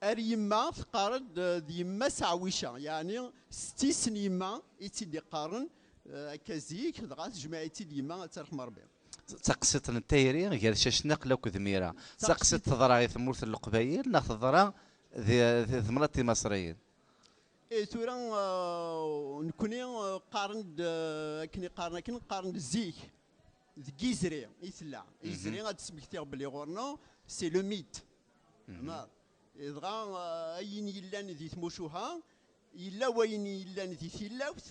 Ar yemma teqqar-d d yemma Saɛwica, yeɛni setti-s n yemma i tt-id-iqqaren akka zik, dɣa tejmeɛ-itt-id yemma, ad tt-arḥem Rebbi. D taqsiḍt n tayri gar Cacnaqla akked Mira. D taqsiḍt teḍra i tmurt n Leqbayel neɣ teḍra di temnaḍt timaṣriyin? Ih, tura nekkni qqaren-d akken i qqaren akken, qqaren-d zik deg Izri i tella. Izri ad d-smektiɣ belli ɣur-neɣ c'est le mythe. Mar. Dɣa eh, ayen yellan di tmucuha, yella wayen yellan di tilawt,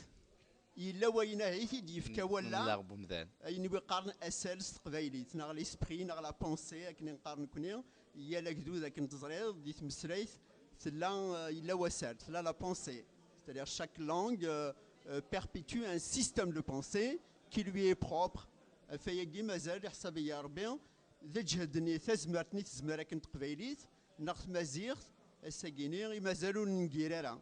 yella wayen ahit i d-yefka walla. Nleɣ bumdan. ayen i qqaren asal s teqbaylit neɣ l'esprit neɣ la pensée akken i nqar nekni yal agdud akken teẓriḍ di tmesrayt tella eh, yella wasal tella la pensée c'est-à-dire chaque langue euh, euh, perpétue un système de pensée qui lui est propre afayagi mazal iḥsab-iyi Rebbi d lǧehd n tazmert n tezmer akken teqbaylit neɣ tmaziɣt, ass-agi-ni i mazal ur nengir ara,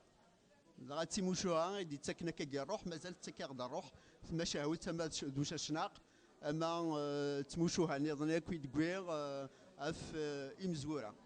dɣa d timucuha i d-ittakken akka i rruḥ, mazal tettak-aɣ-d rruḥ tmacahut ama d ucacnaq ama d tmucuha-nniḍen akk i d-wwiɣ ɣef imezwura.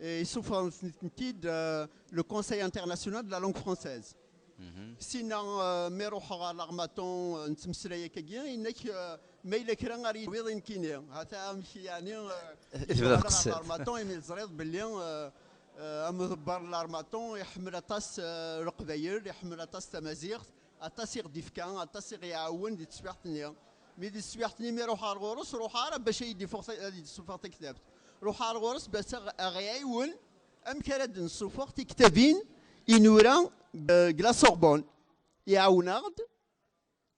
Isuffɣen-tent-id le Conseil international de la langue française. Sina mi ruḥeɣ ɣer Larmaton nettmeslay akkagi, yenna-k ma yella kra ara yi-d-tawiḍ i nekkini. Hata amek yeɛni i tebdiḍ ɣer Larmaton imi teẓriḍ belli amḍebber n Larmaton iḥemmel aṭas Leqbayel, iḥemmel aṭas tamaziɣt, Aṭas i ɣ-d-ifka, aṭas i ɣ-iɛawen di teswiɛt-nni. Mi di teswiɛt-nni mi ruḥeɣ ar ɣur-s, ruḥeɣ ara bac ad yi-d-ifuɣ, ad yi-d-isuffeɣ taktabt. Ruḥeɣ ar ɣur-s bac a ɣ-iɛiwen amek ara d-nsuffeɣ tiktabin i nura deg La Sorbonne. Iɛawen-aɣ-d,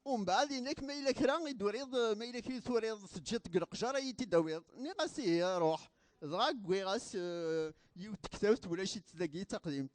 umbeɛd yenna-k ma yella kra i d-turiḍ, ma yella kra i d-turiḍ teǧǧiḍ-t deg leqjer ad yi-t-id-tawiḍ. Nniɣ-as ihi, ruḥ. Dɣa wwiɣ-as yiwet n tektabt, ulac-itt dagi, d taqdimt.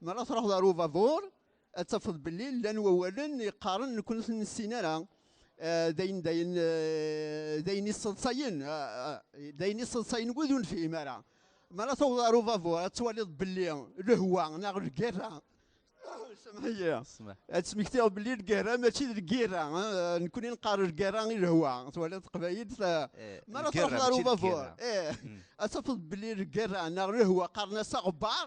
Mi ara truḥeḍ ar ubadur, ad tafeḍ belli llan wawalen yeqqaren nekk ur ten-nessin ara. Eh, d ayen d ayen eh, d ayen yesseḍsayen eh, d ayen yesseḍsayen wid ur nefhim ara mi ara tawḍeḍ ar ubabuṛ ad twaliḍ belli lehwa neɣ lgerra semḥ-iyi ad tesmektiḍ belli lgerra mačči d lgerra nekkni nqar lgerra i lehwa twaliḍ teqbayit mi ara tawḍeḍ ar ubabuṛ ad tafeḍ belli lgerra neɣ lehwa qqaren-as aɣebbar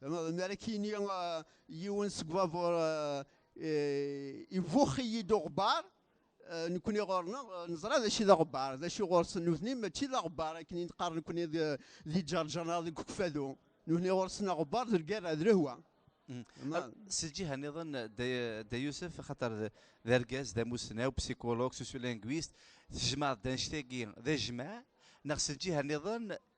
Mi ara k-yini yiwen seg ubabuṛ, Ibux-iyi-d uɣebbaṛ, nekkni ɣur-neɣ neẓra d acu i d aɣebbaṛ, d acu ɣur-sen nutni mačči d aɣebbaṛ akken i d-qqaren nekkni di Ǧerǧer neɣ deg Ukfadu, nutni ɣur-sen aɣebbaṛ d lgerra, d lehwa. Si lǧiha nniḍen, Dda Yusef, axaṭer d argaz, d amussnaw, psychologue, sociolinguiste, tejmaɛeḍ-d annect-agi d ajmaɛ, neɣ si lǧiha nniḍen,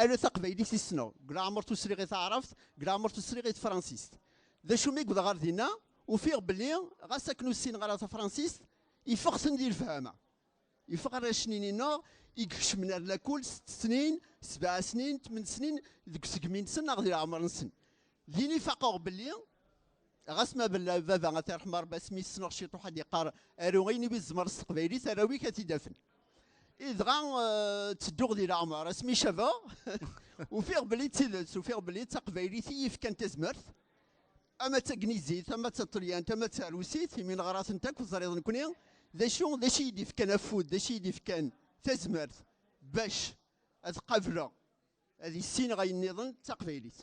Ala taqbaylit i ssneɣ, deg leɛmer tusriɣ i taɛrabt, deg leɛmer tusriɣ i tefransist. D acu mi wwḍeɣ ɣer dinna, ufiɣ belli ɣas akken ur ssineɣ ara tafransist, ifeɣ-ten di lefhama. Ifeɣ arrac-nni-nneɣ i ikecmen ar lakul sett snin, sebɛa snin, tmen snin deg usegmi-nsen neɣ di leɛmer-nsen. Din i faqeɣ belli. ɣas ma bella baba a tirḥem rebbi asmi ssneɣ ciṭuḥ ad yeqqar aru ayen iwi tzemreḍ s teqbaylit arraw-ik ad t-id-afen idɣa eh, ttedduɣ di leɛmer asmi cabeɣ ufiɣ belli d tidet ufiɣ belli d taqbaylit i yefkan tazmert ama d tagnizit ama d taṭelyant ama d tarusit imi neɣra-tent akk teẓriḍ nekkni d acu d acu iyi-d-ifkan afud d acu iyi-d-ifkan tazmert bac ad qableɣ ad issineɣ ayen nniḍen d taqbaylit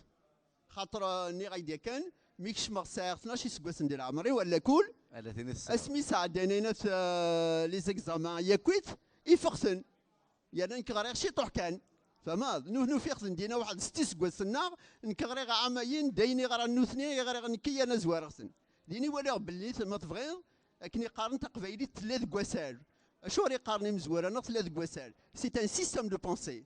xaṭer eh, nniɣ-ak-d yakan mi kecmeɣ sɛiɣ 12 iseggasen di leɛmer-iw ala kul asmi sɛeddan ayen at eh, les examens yakk-it ifexten yerna nekk ɣriɣ ciṭuḥ kan famaḍ nuh nufiq ten dina waḥed s tiseggasen-nneɣ nekk ɣriɣ ɛamayin d ayen iɣran nutni i ɣriɣ nekk yerna zwareɣ-ten din i waliɣ belli ma tebɣiḍ akken iqqaren taqbaylit tella deg wasal acuɣer iqqaren imezwura neɣ tella deg wasal c'est un système de pensée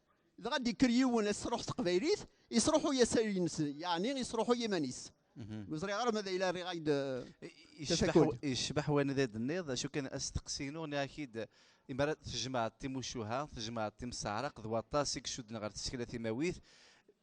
dɣa d-ikker yiwen ad s-truḥ teqbaylit, yesruḥuy asayl-nnes, yeɛni yesruḥuy iman-is. Mhm. Ur ẓriɣ ara ma d ayla rriɣ-ak-d tafakul. Yecbeḥ wanid ay d-tenniḍ, acu kan asteqsi-inu nniɣ-ak-id imi ara tjemɛeḍ timucuha, tjemɛeḍ timseɛraq d waṭas i icudden ɣer tsekla timawit,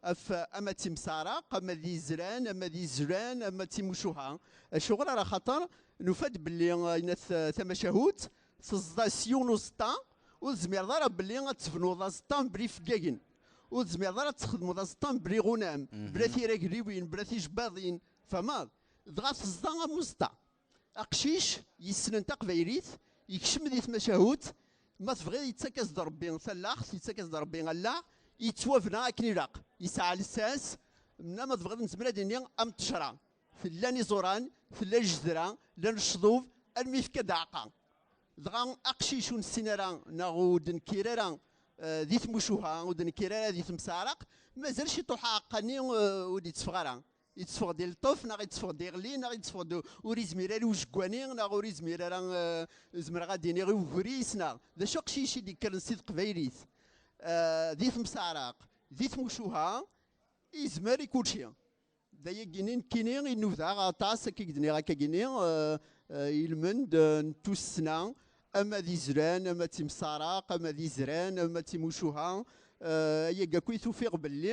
af ama d timseɛraq ama d izran ama d izran ama d timucuha acuɣer ara xaṭer nufa-d belli inat tamacahut teẓda s yiwen uẓeṭṭa ur tezmireḍ ara belli ad tebnuḍ aẓeṭṭa mebla ifeggagen ur tezmireḍ ara ad txedmeḍ aẓeṭṭa mebla iɣunam bla tiragliwin bla tijbaḍin tfahmeḍ dɣa teẓda am uẓeṭṭa Aqcic yessnen taqbaylit yekcem di tmacahut, ma tebɣiḍ yettak-as-d Rebbi tallaɣt, yettak-as-d Rebbi allaɣ, yettwabna akken ilaq, yesɛa lsas, mna ma tebɣiḍ nezmer ad ini am ṭṭecra, llan iẓuran, tella ljezdra, llan lecḍub, almi yefka-d aɛeqqa. Dɣa aqcic ur nessin ara neɣ ur d-nekkir ara di tmucuha, ur d-nekkir ara di temseɛraq, mazal ciṭuḥ aɛeqqa-nni ur d-itteffeɣ ara. Yetteffeɣ-d ileṭṭef neɣ yetteffeɣ-d iɣli neɣ yetteffeɣ-d ur izmir ara i ujeggwani neɣ ur izmir ara eh, zemreɣ ad iniɣ i ugris neɣ d acu aqcic i d-yekkren si teqbaylit eh, di temsaɛraq di tmucuha izmer i kulci d ayagini nekkini i nudaɣ aṭas akka i d-niɣ akka gini eh, ilmend n tussna ama d izran ama d timsaɛraq ama d izran ama d timucuha ayagi akk i tufiɣ belli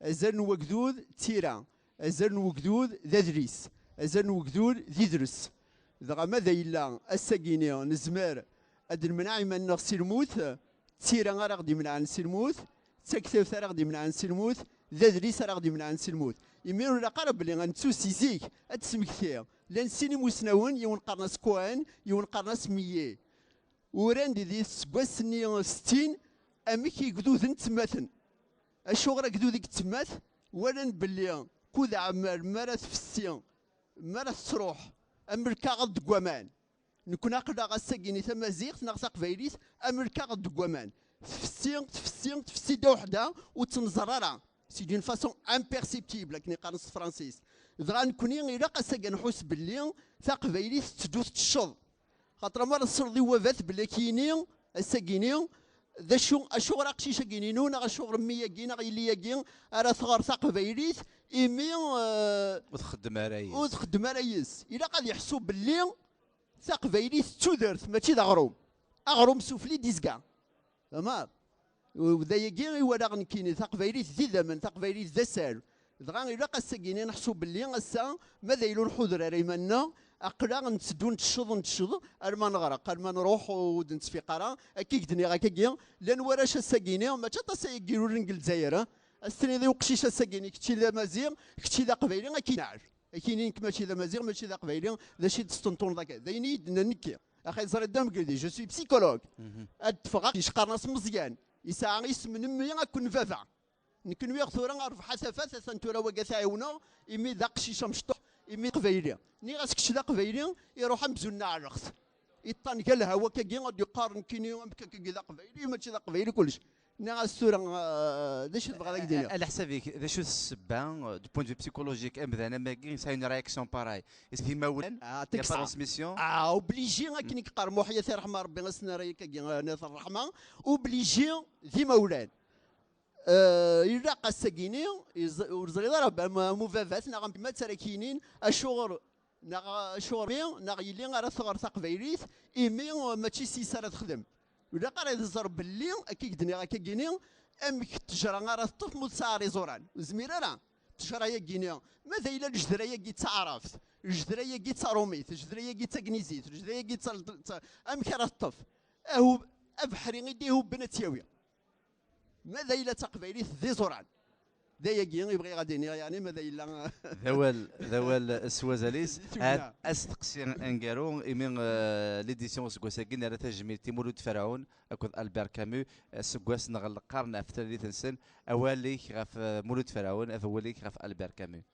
Azal n wegdud d tira, azal n wegdud d adlis, azal n wegdud d idres. Dɣa ma da yella ass-agi-ni nezmer ad d-nemneɛ iman-nneɣ si lmut, d tira ara ɣ-d-imenɛen si lmut, d taktabt ara ɣ-d-imenɛen si lmut, d adlis ara ɣ-d-imenɛen si lmut. Imi ur ilaq ara belli ad nettu si zik ad d-tesmekti. Llan sin imusnawen, yiwen qqaren-as Cohen, yiwen qqaren-as Millet. Uran-d di teseggas-nni settin amek igduden ttemmaten. Acuɣer agdud i yettmat walan belli kud ɛmer mi ara tfessi, mi ara tettruḥ am lkaɣeḍ deg waman. Nekkni aql-aɣ ass-agi ni tamaziɣt neɣ taqbaylit am lkaɣeḍ deg waman. Tfessi, tfessi, tfessi ddaw ḥda ur tt-nẓerr ara, c'est d'une façon imperceptible akken i qqaren s tefransist. Dɣa nekkni ilaq ass-agi ad nḥuss belli taqbaylit tetteddu teččeḍ. Xaṭer amar tesreḍ i wabat belli akini, assagini, d acu, acuɣer aqcic-agini-nu neɣ acuɣer mmi-agi neɣ yelli-agi ara tɣer taqbaylit imi eh, Ur txeddem ara ur yis. txeddem ara yis. Ilaq ad yeḥsu belli taqbaylit d tudert mačči d aɣrum. Aɣrum sufli d izga. Tamar. D ayagi i walaɣ nekkini, taqbaylit d idammen, taqbaylit d asal. Dɣa ilaq ass-agi i neḥsu belli ass-a, ma d ayen ur nḥuder ara iman-nneɣ, aql-aɣ ntteddu ntecceḍ ntecceḍ alma neɣreq, alma nruḥ ur d-nettfiq ara. Akka i k-d-nniɣ akkagi, llan warrac ass-agini, mačči aṭas ay irulen deg Lezzayer, ad as-tiniḍ i uqcic ass-agini kečč d amaziɣ, kečč d aqbayli, ad k-ineɛɛel, ad k-yini nekk mačči d amaziɣ, mačči d aqbayli, d acu i d-testentuneḍ akka? D ayen i yi-d-nnan nekki. axi ẓri dda mgeldi je suis psychologue mhm. ad d-teffeɣ yecqaren as meẓyan yesɛa isem n mmi akked n baba nekk nwiɣ tura rbeḥ asafat atan tura waga tɛiwneɣ imi d aqcic amecṭuḥ imi qbayli nniɣ-as kečč d aqbayli iruḥ amzun n aɛrext iṭṭan gal hawa kagi ad d-yeqqar nekkini amek kagi d aqbayli mačči d aqbayli kullec Nniɣ-as tura d acu tebɣiḍ ad ak-d-iniɣ. Ala ḥsab-ik, d acu ssebba du point de vue psychologique amdan am wagi yesɛa une réaction pareille? Est-ce d imawlan? Ah, il n'y a pas transmission? Ah, obligé akken i yeqqar Muḥya Si Ṛṛeḥma Ṛebbi ad s-nerr ayakagi Nat Ṛṛeḥma, obligé d imawlan. Ilaq ad s-ak-iniɣ, ur teẓriḍ ara am ubabat neɣ am yemma-s ara ak-yinin acuɣer Neɣ acuɣer i neɣ yelli ara tɣer taqbaylit imi mačči s yes ara texdem. Ilaq ara tẓer belli akka i k-d-nniɣ akka gini amek ttejra ara teṭṭef ma ur tesɛiɣ iẓuran. Ur nezmir ara. Ttejra-yagini ma d ayla lejdra-yagi d taɛrabt, lejdra-yagi d tarumit, lejdra-yagi d tagnizit, lejdra-yagi d amek ara teṭṭef? Ahu abeḥri i d-ihubben ad tt-yawi. Ma d ayla d taqbaylit d iẓuran. D ayagi i bɣiɣ ad iniɣ yani ma d ayla. D awal d awal s wazal-is. Ad asteqsi aneggaru imi eh, l'édition useggas-agi nerra tajmilt i Mulud Ferɛun akked Albert Camus aseggas neɣ leqqaren ɣef tlalit-nsen. Awal-ik ɣef eh, Mulud Ferɛun, awal-ik ɣef Albert Camus.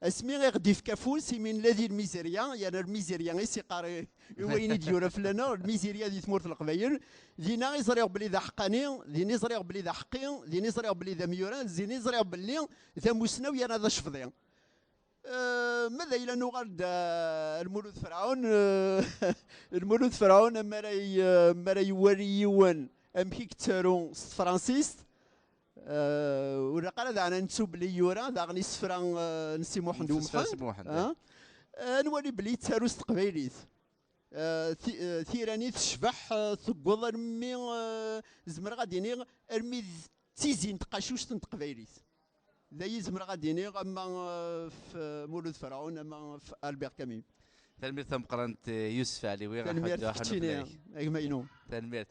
Asmi i ɣ-d-ifk afus, imi nella di lmizirya, yerna lmizirya i s-iqqar i wayen i d-yura fell-aneɣ, lmizirya di tmurt n Leqbayel, dinna i ẓriɣ belli d aḥeqqani, din i ẓriɣ belli d aḥeqqi, din i ẓriɣ belli d amyuran, din i ẓriɣ belli d amussnaw yerna d acefḍi. Ma d ayla nuɣal-d ar Lmulud Ferɛun, Lmulud Ferɛun mi ara iwali yiwen amek i yettaru s tefransist, ur ilaq ara daɣen ad nettu belli yura daɣen isefra n Si Muḥend U Muḥend. Ad nwali belli yettaru s teqbaylit. Tira-nni tecbeḥ tewweḍ armi zemreɣ ad d-iniɣ armi d tizi n tqacuct n teqbaylit. D ayi zemreɣ ad d-iniɣ ama f Mulud Ferɛun ama f Albert Camus. Tanemmirt tameqqrant Yusef Ɛliwi. Tanemmirt keččini a gma-inu. Tanemmirt.